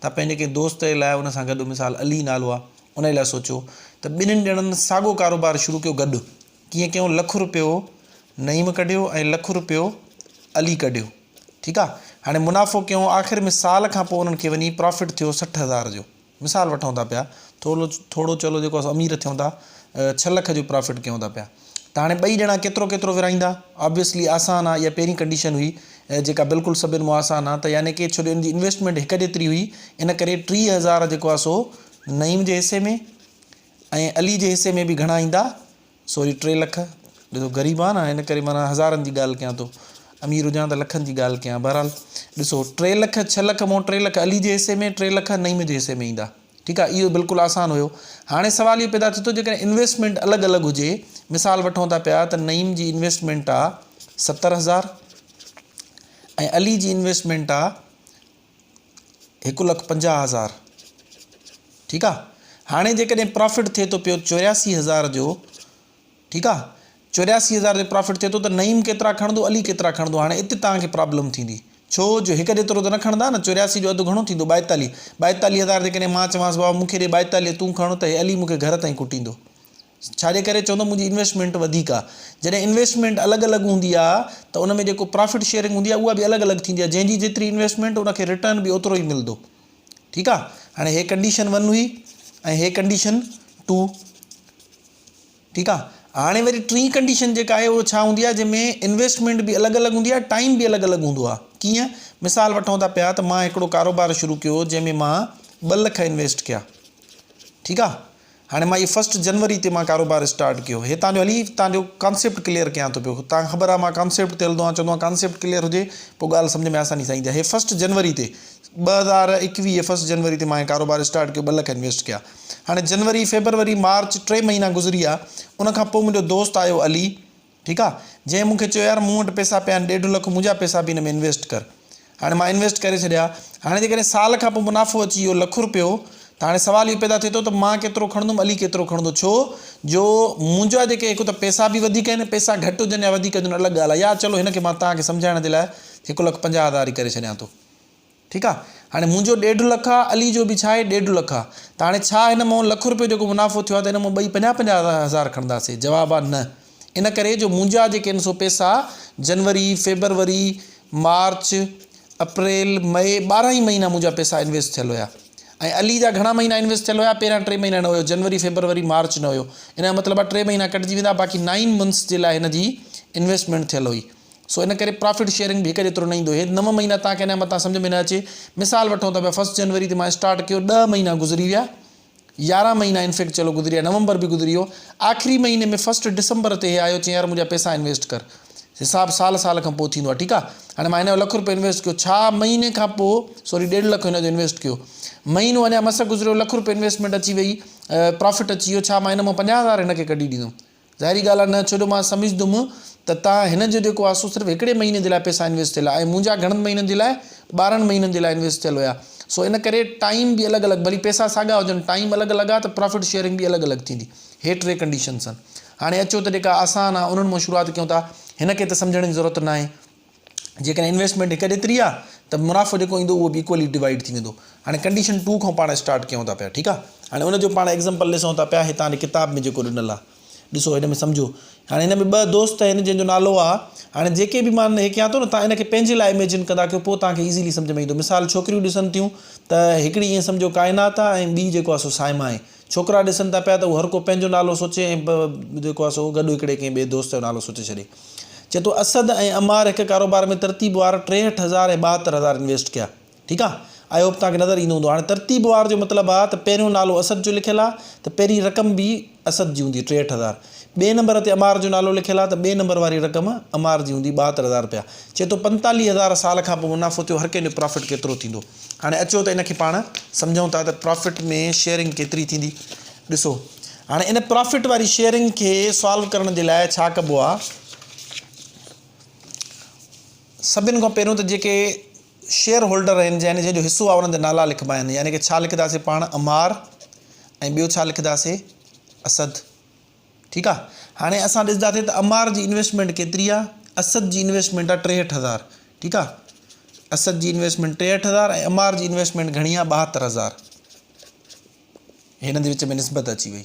تان پنهنجي ڪنهن دوست جي لاء ان سان گڏ مثال علي نالو آ انهي لاء سوچيو ته ٻنهين ڄڻن ساڳو ڪاروبار شروع ڪيو گڏ ڪيئن ڪيون لک روپيو نعيم ڪڍيو ۽ لک روپيو علي ڪڍيو ٺيڪ آ هاڻي منافعو ڪيون آخر ۾ سال کان پوء انهن کي وڃي پرافٽ ٿيو سٺ هزار جو مثال وٺون ٿا پيا ٿورو ٿورو چلو جيڪو اسان امير ٿيون ٿا ڇهه لک جو پرافٽ ڪيون ٿا پيا ته هاڻي ٻئي ڄڻا ڪيترو ڪيترو ورهائيندا؟ Obviously آسان آ اها پهرين ڪنڊيشن هئي جيڪا بلڪل سڀن مون آسان آ ته يعني ڪي ڇو جو ان جي انويسٽمينٽ هڪ جيتري هئي ان ڪري ٽيهه هزار جيڪو آ سو نعيم جي حصي ۾ ۽ علي جي حصي ۾ به گهڻا ايندا سوري ٽي لک ڏسو غريب آ نه ان ڪري معنيٰ هزارن جي ڳالهه ڪيان ٿو امير هجان ته لکن جي ڳالهه ڪيان بهرحال ڏسو ٽي لک ڇهه لک مون ٽي لک علي جي حصي ۾ ٽي لک نعيم جي حصي ۾ ايندا ٺيڪ آهي اهو بلڪل آسان هيو هاڻي سوال اهو پيدا ٿي ٿو جيڪڏهن انويسٽمينٽ الڳ الڳ هجي مثال وٺون ٿا پيا ته نعيم جي انويسٽمينٽ آهي ستر هزار ۽ علي جي انويسٽمينٽ آهي هڪ لک پنجاهه هزار ٺيڪ آهي هاڻي جيڪڏهن پرافٽ ٿئي ٿو پيو چورياسي هزار جو ٺيڪ آ چورياسي هزار تي پرافٽ ٿئي ٿو ته نعيم ڪيترا کڻندو علي ڪيترا کڻندو هاڻي ات توهان کي پرابلم ٿيندي ڇو جو هڪ جيترو ته نه کڻندا نه چورياسي جو اڌ گهڻو ٿيندو ٻائيتاليهه ٻائيتاليهه هزار تي ڪڏهن مان چوانس بابا مونکي ڏي ٻائيتاليهه تون کڻ ته هي علي مونکي گهر تائين ڪٽيندو ڇا جي ڪري چوندو منهنجي انويسٽمينٽ وڌيڪ آ جڏهن انويسٽمينٽ الڳ الڳ هوندي آ ته ان ۾ جيڪو پرافٽ شيئرنگ هوندي آ اها به الڳ الڳ ٿيندي آ جنهن جي جيتري انويسٽمينٽ ان کي رٽرن به اوترو ئي ملدو ٺيڪ آ هاڻي هي ڪنڊيشن ون هئي ۽ هي ڪنڊيشن ٽو ٺيڪ آ هاڻي وري ٽين ڪنڊيشن جيڪا آهي اهو ڇا هوندي آهي جنهن ۾ انويسٽمينٽ به الڳ الڳ هوندي آهي ٽائيم به الڳ الڳ هوندو آهي ڪيئن مثال وٺون ٿا پيا ته مان هڪڙو ڪاروبار شروع ڪيو جنهن ۾ مان ٻه لک انويسٽ ڪيا ٺيڪ آ هاڻي مان هي فسٽ جنوري تي مان ڪاروبار اسٽارٽ ڪيو هي تانجو هلي تانجو ڪانسيپٽ ڪليئر ڪيان ٿو پيو تانکي خبر آهي مان ڪانسيپٽ تي هلندو آهيان چوندو آهيان ڪانسيپٽ ڪليئر هجي پو ڳالهه سمجهه ۾ آساني سان ايندي آهي هي فسٽ جنوري تي ٻه هزار ايڪويهه فسٽ جنوري تي مان هي ڪاروبار اسٽارٽ ڪيو ٻه لک انويسٽ ڪيا هاڻي جنوري، فيبروري، مارچ ٽي مهينا گذري ويا. ان کان پوء منهنجو دوست آيو علي، ٺيڪ آ، جنهن مون کي چيو يار مون وٽ پئسا پيا آهن ڏيڍ لک منهنجا پئسا به هن ۾ انويسٽ ڪر. هاڻي مان انويسٽ ڪري ڇڏيا. هاڻي جيڪڏهن سال کان پوء منافعو اچي ويو لک رپيو ته هاڻي سوال اهو پيدا ٿئي ٿو ته مان ڪيترو کڻندم علي ڪيترو کڻندو ڇو جو منهنجا جيڪي هڪ ته پئسا به وڌيڪ آهن پئسا گهٽ هجن يا وڌيڪ هجن الڳ ڳالهه آهي يار چلو هن کي مان توهان کي سمجهائڻ جي لاء هڪ لک پنجاهه هزار ئي ڪري ڇڏيان ٿو. ٺيڪ آ هاڻي منهنجو ڏيڍ لک آ علي جو به ڇا آهي ڏيڍ لک آ ته هاڻي ڇا هن مون لک روپيو جيڪو منافعو ٿيو آ ته هن مون ٻئي پنجاهه پنجاهه هزار کڻنداسي جواب آ نه ان ڪري جو منهنجا جيڪي ان سو پيسا جنوري فيبروري مارچ اپريل مئي ٻارهن ئي مهينا منهنجا پيسا انويسٽ ٿيل هيا ۽ علي جا گهڻا مهينا انويسٽ ٿيل هيا پهريان ٽي مهينا نه هيو جنوري فيبروري مارچ نه هيو ان جو مطلب آ ٽي مهينا ڪٽجي ويندا باقي نائن منٿس جي لاء هن جي انويسٽمينٽ ٿيل هئي سو ان ڪري پرافٽ شيئرنگ به هڪ جيترو نه ايندو. هي نو مهينا توهان کي ان جا متان سمجهه ۾ نه اچي. مثال وٺون ته ڀيا فرسٽ جنوري تي مان اسٽارٽ ڪيو ڏهه مهينا گذري ويا، يارهن مهينا ان فيڪٽ چلو گذري ويا، نومبر به گذري ويو، آخري مهيني ۾ فرسٽ ڊسمبر تي هي آيو چيائين يار منهنجا پيسا انويسٽ ڪر. حساب سال سال کان پوء ٿيندو آهي ٺيڪ آهي. هاڻي مان هن جو لک روپيو انويسٽ ڪيو ڇا مهيني کان پوء سوري ڏيڍ لک هن جو انويسٽ ڪيو مهينو اڃا مس گذريو لک روپيو انويسٽمينٽ اچي وئي پرافٽ اچي ويو ڇا مان هن مون پنجاهه هزار هن کي ڪڍي ڏيندم. ظاهري ڳالهه آهي نه، ڇو جو مان سمجهندم ته تان هن جو جيڪو آسو صرف هڪڙي مهيني جي لاء پئسا انويسٽ ٿيل آهي ۽ منهنجا گهڻن مهينن جي لاء ٻارهن مهينن جي لاء انويسٽ ٿيل هيا سو ان ڪري ٽائيم به الڳ الڳ ڀلي پئسا ساڳا هجن ٽائيم الڳ الڳ آهي ته پرافٽ شيئرنگ به الڳ الڳ ٿيندي هي ٽي ڪنڊيشنس آهن هاڻي اچو ته جيڪا آسان آهي انهن مان شروعات ڪيون ٿا هن کي ته سمجهڻ جي ضرورت ناهي جيڪڏهن انويسٽمينٽ هڪ ڏيتري آ ته منافعو جيڪو ايندو اهو به ايڪولي ڊوائيڊ ٿي ويندو هاڻي ڪنڊيشن ٽو کان پاڻ اسٽارٽ ڪيون ٿا پيا ٺيڪ آ هاڻي ان جو پاڻ ايگزامپل ڏسون ٿا پيا هتان ڪتاب ۾ جيڪو ڏنل آ ڏسو هن ۾ سمجهو هاڻي هن ۾ ٻه دوست آهن جن جو نالو آ هاڻي جيڪي به مان هي ڪيان ٿو نه تان ان کي پنهنجي لاء اميجن ڪندا ڪيو پوء تان کي ايزلي سمجهه ۾ ايندو مثال ڇوڪريون ڏسن ٿيون ته هڪڙي ائين سمجهو ڪائنات آ ۽ ٻي جيڪو آ سو سائما آهي ڇوڪرا ڏسن ٿا پيا ته هو هر ڪو پنهنجو نالو سوچي ۽ ب جيڪو آهي سو گڏ هڪڙي ڪنهن ٻئي دوست جو نالو سوچي ڇڏي. چئي ٿو اسد ۽ عمار هڪ ڪاروبار ۾ ترتيب وار ٽيهٺ هزار ۽ ٻاهتر هزار انويسٽ ڪيا. ٺيڪ آ. آئي هوپ توهان کي نظر ايندو هوندو. هاڻي ترتيب وار جو مطلب آ ته پهريون نالو اسد جو لکيل آ ته پهرين رقم به اسد جي هوندي ٽيهٺ هزار. ٻئي نمبر تي عمار جو نالو لکيل آهي ته ٻئي نمبر واري رقم عمار جي هوندي ٻاهتر هزار رپيا. چئي ٿو پنتاليهه هزار سال کان پوء منافعو ٿيو هر ڪنهن جو پرافٽ ڪيترو ٿيندو. هاڻي اچو ته ان کي پاڻ سمجهون ٿا ته پرافٽ ۾ شيئرنگ ڪيتري ٿيندي. ڏسو هاڻي ان پرافٽ واري شيئرنگ کي سالو ڪرڻ جي لاء ڇا ڪبو آهي. سڀن کان پهريون ته جيڪي شيئر هولڊر رهن يعني جنهن جو حصو آهي انهن جا نالا لکبا آهن يعني ڪه ڇا لکنداسين پاڻ عمار ۽ ٻيو ڇا لکنداسين اسد ٺيڪ آهي هاڻي اسان ڏسنداسين ته عمار جي انويسٽمينٽ ڪيتري آهي اسد جي انويسٽمينٽ آهي ٽيهٺ هزار ٺيڪ آهي اسد جي انويسٽمينٽ ٽيهٺ هزار ۽ عمار جي انويسٽمينٽ گهڻي آهي ٻاهتر هزار هنن جي وچ ۾ نسبت اچي وئي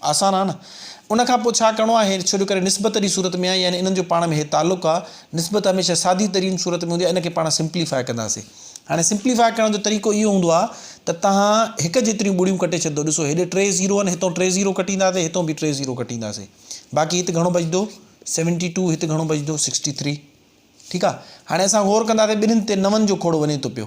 آسان آهي نه. ان کان پوء ڇا ڪرڻو آهي؟ ڇو جو ڪري نسبت جي صورت ۾ آهي يعني انهن جو پاڻ ۾ هي تعلق آهي. نسبت هميشه سادي ترين صورت ۾ هوندي آهي ان کي پاڻ سمپليفاء ڪنداسين. هاڻي سمپليفاء ڪرڻ جو طريقو اهو هوندو آهي ته تهان هڪ جيتريون ٻڙيون ڪٽي ڇڏندو ڏسو هيڏي ٽي زيرو آهن هتئون ٽي زيرو ڪٽينداسين هتئون به ٽي زيرو ڪٽينداسين باقي هت گهڻو بچندو سيونٽي ٽو هت گهڻو بچندو سڪسٽي ٿري ٺيڪ آهي هاڻي اسان غور ڪنداسين ٻنهين تي نون جو کوڙو وڃي ٿو پيو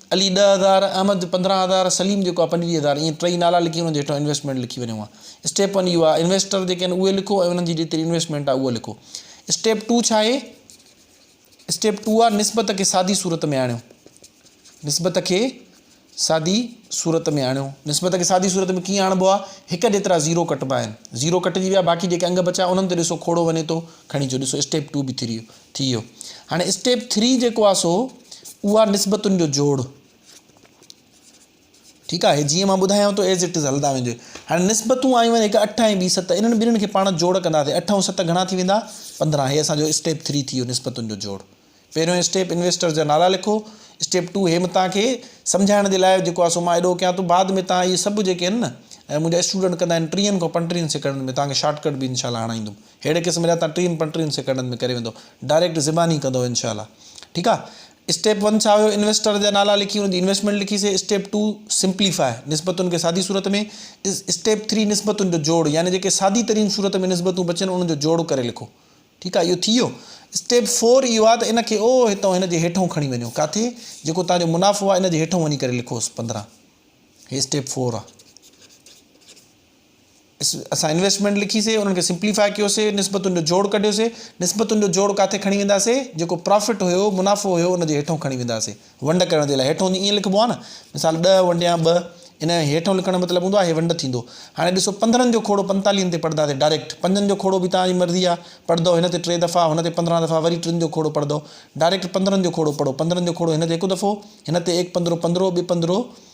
علي ڏهه هزار، احمد پندرهن هزار، سليم جيڪو آهي پنجويهه هزار ائين ٽئي نالا لکي انهن جي هيٺان انويسٽمينٽ لکي وڃو ها. اسٽيپ ون اهو آهي انويسٽر جيڪي آهن اهي لکو ۽ انهن جي جيتري انويسٽمينٽ آهي اها لکو. اسٽيپ ٽو ڇا آهي؟ اسٽيپ ٽو آهي نسبت کي سادي صورت ۾ آڻيو. نسبت کي سادي صورت ۾ آڻيو. نسبت کي سادي صورت ۾ ڪيئن آڻبو آهي؟ هڪ جيترا زيرو ڪٽبا آهن. زيرو ڪٽجي ويا باقي جيڪي انگ بچيا انهن تي ڏسو کوڙو وڃي ٿو کڻي اچو ڏسو اسٽيپ ٽو به ٿريو. ٿي ويو هاڻي اسٽيپ ٿري جيڪو آ سو اها نسبتن جو جوڙ ٺيڪ آهي جيئن مان ٻڌايان ٿو ايز اٽ از هلندا ويندو هاڻي نسبتون آيون آهن هڪ اٺ ۽ ٻي ست انهن ٻنهين کي پاڻ جوڙ ڪنداسي اٺ ۽ ست گهڻا ٿي ويندا پندرهن هي اسان جو اسٽيپ ٿري ٿي ويو نسبتن جو جوڙ پهريون اسٽيپ انويسٽر جا نالا لکو اسٽيپ ٽو هي متان کي سمجھائڻ جي لاء جيڪو آ سو مان ايڏو ڪيان ٿو بعد ۾ تان اهي سڀ جيڪي آهن نه منهنجا اسٽوڊنٽ ڪندا آهن ٽيهن کان پنٽيهن سيڪنڊن ۾ تان کي شارٽ ڪٽ به انشاء الله هڻائيندم اهڙي قسم جا تان ٽين پنج ٽين سيڪنڊن ۾ ڪري ويندو ڊائريڪٽ زباني ڪندو انشاء الله ٺيڪ آ اسٽيپ ون ڇا هيو انويسٽر جا نالا لکي ان جي انويسٽمينٽ لکي سي اسٽيپ ٽو سمپلي فاء نسبتن کي سادي صورت ۾ اسٽيپ ٿري نسبتن جو جوڙ يعني جيڪي سادي ترين صورت ۾ نسبتون بچن انهن جو جوڙ ڪري لکو ٺيڪ آ اهو ٿي ويو اسٽيپ فور اهو آ ته ان کي او هتو هن جي هيٺون کڻي وڃو ڪاٿي جيڪو تان جو منافعو آ ان جي هيٺون وڃي ڪري لکوس پندرهن هي اسٽيپ فور آ اسان انويسٽمينٽ لکيسي انهن کي سمپليفاء ڪيوسي نسبتن جو جوڙ ڪڍيوسي نسبتن جو جوڙ ڪاٿي کڻي وينداسي جيڪو پرافٽ هيو منافعو هيو ان جي هيٺون کڻي وينداسي ونڊ ڪرڻ جي لاء هيٺون ائين لکبو آهي نه مثال ڏهه ونڊيان ٻه ان جي هيٺون لکڻ جو مطلب هوندو آهي هي ونڊ ٿيندو هاڻي ڏسو پندرهن جو کوڙو پنتاليهن تي پڙهنداسي ڊائريڪٽ پنجن جو کوڙو به توهان جي مرضي آهي پڙهندو هن تي ٽي دفعا هن تي پندرهن دفعا وري ٽن جو کوڙو پڙهندو ڊائريڪٽ پندرهن جو کوڙو پڙهو پندرهن جو کوڙو هن تي هڪ دفعو هن تي ايڪ پندرهو پندرهو ٻه پندرهو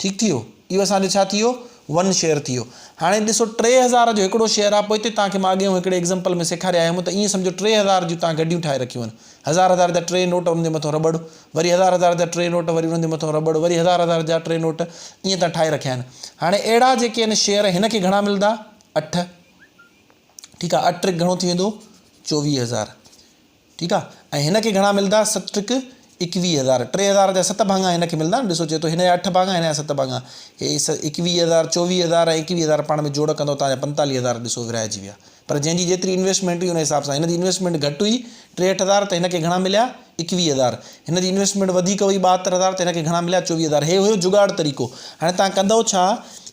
ٺيڪ ٿي ويو اهو اسان جو ڇا ٿي ويو ون شيئر ٿي ويو هاڻي ڏسو ٽي هزار جو هڪڙو شيئر آهي پوء هتي تان کي مان اڳي هون هڪڙي ايگزامپل ۾ سيکاري آيو هيم ته ائين سمجهو ٽي هزار جون تان گڏيون ٺاهي رکيون آهن هزار هزار جا ٽي نوٽ انهن جي مٿو رٻڙ وري هزار هزار جا ٽي نوٽ وري انهن جي مٿو رٻڙ وري هزار هزار جا ٽي نوٽ ائين تان ٺاهي رکيا آهن هاڻي اهڙا جيڪي آهن شيئر هن کي گهڻا ملندا اٺ ٺيڪ آهي اٺ ٽرڪ گهڻو ٿي ويندو چوويهه هزار ٺيڪ آ ۽ هن کي گهڻا ملدا ست ٽرڪ ايڪويهه هزار ٽي هزار جا ست ڀاڱا هن کي ملدا آهن ڏسو چئي ٿو هن جا اٺ ڀاڱا هن جا ست ڀاڱا هي ايڪويهه هزار چوويهه هزار ۽ ايڪويهه هزار پاڻ ۾ جوڙ ڪندو توهان جا پنتاليهه هزار ڏسو ورهائجي ويا پر جنهن جي جيتري انويسٽمينٽ هئي ان حساب سان هن جي انويسٽمينٽ گهٽ هئي ٽيهٺ هزار ته هن کي گهڻا مليا ايڪويهه هزار هن جي انويسٽمينٽ وڌيڪ هئي ٻاهتر هزار ته هن کي گهڻا مليا چوويهه هزار هي هيو جگاڙ طريقو هاڻي توهان ڪندو ڇا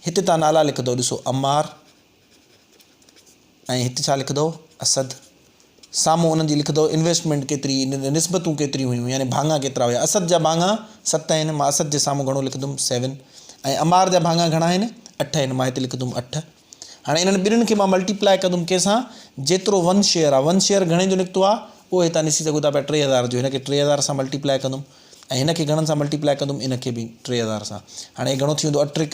هتي توهان نالا لکندو ڏسو عمار ۽ هت ڇا لکندو اسد سامهون انهن جي لکندو انويسٽمينٽ ڪيتري نسبتون ڪيتريون هيون يعني ڀاڱا ڪيترا هيا اسد جا ڀاڱا ست آهن مان اسد جي سامهون گهڻو لکندم سيون ۽ عمار جا ڀاڱا گهڻا آهن اٺ آهن مان هت لکندم اٺ هاڻي انهن ٻنهن کي مان ملٽيپلائي ڪندم ڪنهن سان جيترو ون شيئر آهي ون شيئر گهڻي جو نڪتو آهي اهو هتان ڏسي سگهو ٿا پيا ٽي هزار جو هن کي ٽي هزار سان ملٽيپلائي ڪندم ۽ هن کي گهڻن سان ملٽيپلائي ڪندم ان کي به ٽي هزار سان هاڻي هي گهڻو ٿي ويندو اٽرڪ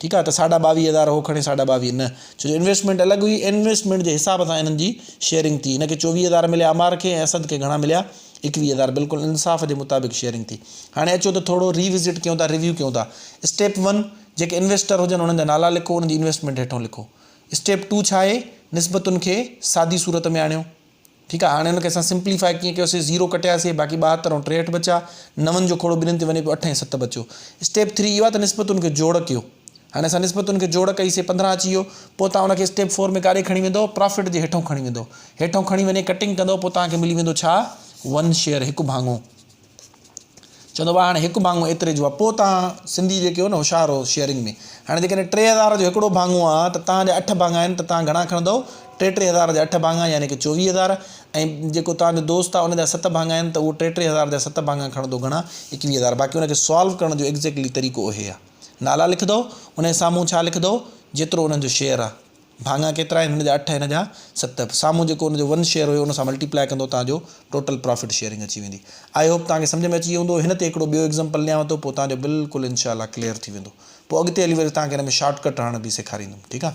ٺيڪ آ ته ساڍا ٻاويهه هزار هو کڻي ساڍا ٻاويهه نه ڇو جو انويسٽمينٽ الڳ هئي انويسٽمينٽ جي حساب سان هنن جي شيئرنگ ٿي هن کي چوويهه هزار مليا عمار کي ۽ اسد کي گهڻا مليا ايڪويهه هزار بلڪل انصاف جي مطابق شيئرنگ ٿي هاڻي اچو ته ٿورو ري وزٽ ڪيون ٿا ريويو ڪيون ٿا اسٽيپ ون جيڪي انويسٽر هجن انهن جا نالا لکو انهن جي انويسٽمينٽ هيٺون لکو اسٽيپ ٽو ڇا آهي نسبتن کي سادي صورت ۾ آڻيو ٺيڪ آهي هاڻي ان کي اسان سمپليفاء ڪيئن ڪيو سي زيرو ڪٽياسي باقي ٻاهتر ۽ ٽيهٺ بچيا نون جو کوڙو ٻنهين تي وڃي پيو اٺ ۽ ست بچيو اسٽيپ ٿري اهو آهي ته نسبتن کي جوڙ ڪيو هاڻي اسان نسبتن کي جوڙ ڪئي سي پندرهن اچي ويو پوء توهان ان کي اسٽيپ فور ۾ ڪاڏي کڻي ويندو پرافٽ جي هيٺون کڻي ويندو هيٺون کڻي وڃي ڪٽنگ ڪندو پوء توهان کي ملي ويندو ڇا ون شيئر هڪ ڀاڱو چوندو وا هاڻي هڪ ڀاڱو ايتري جو آ پوء تان سنڌي جيڪي هو نه هوشيار هو شيئرنگ ۾ هاڻي جيڪڏهن ٽي هزار جو هڪڙو ڀاڱو آ ته تان جا اٺ ڀاڱا آهن ته تان گهڻا کڻندؤ ٽي ٽي هزار جا اٺ ڀاڱا يعني ڪي چوويهه هزار ۽ جيڪو تان جو دوست آ ان جا ست ڀاڱا آهن ته اهو ٽي ٽي هزار جا ست ڀاڱا کڻندو گهڻا ايڪويهه هزار باقي ان کي سالو ڪرڻ جو ايڪزيڪٽلي طريقو اهي آ نالا لکندؤ انهي سامهون ڇا لکندؤ جيترو انهن جو شيئر آ. ڀاڱا ڪيترا آهن هن جا اٺ هن جا ست سامهون جيڪو ان جو ون شيئر هيو ان سان ملٽيپلائي ڪندو توهان جو ٽوٽل پرافٽ شيئرنگ اچي ويندي آئي هوپ توهان کي سمجهه ۾ اچي ويو هوندو هن تي هڪڙو ٻيو ايگزمپل ڏيانو ٿو پوء توهان جو بلڪل انشاء الله ڪليئر ٿي ويندو پوء اڳتي هلي وري توهان کي ان ۾ شارٽ ڪٽ هڻڻ به سيکاريندم ٺيڪ آ.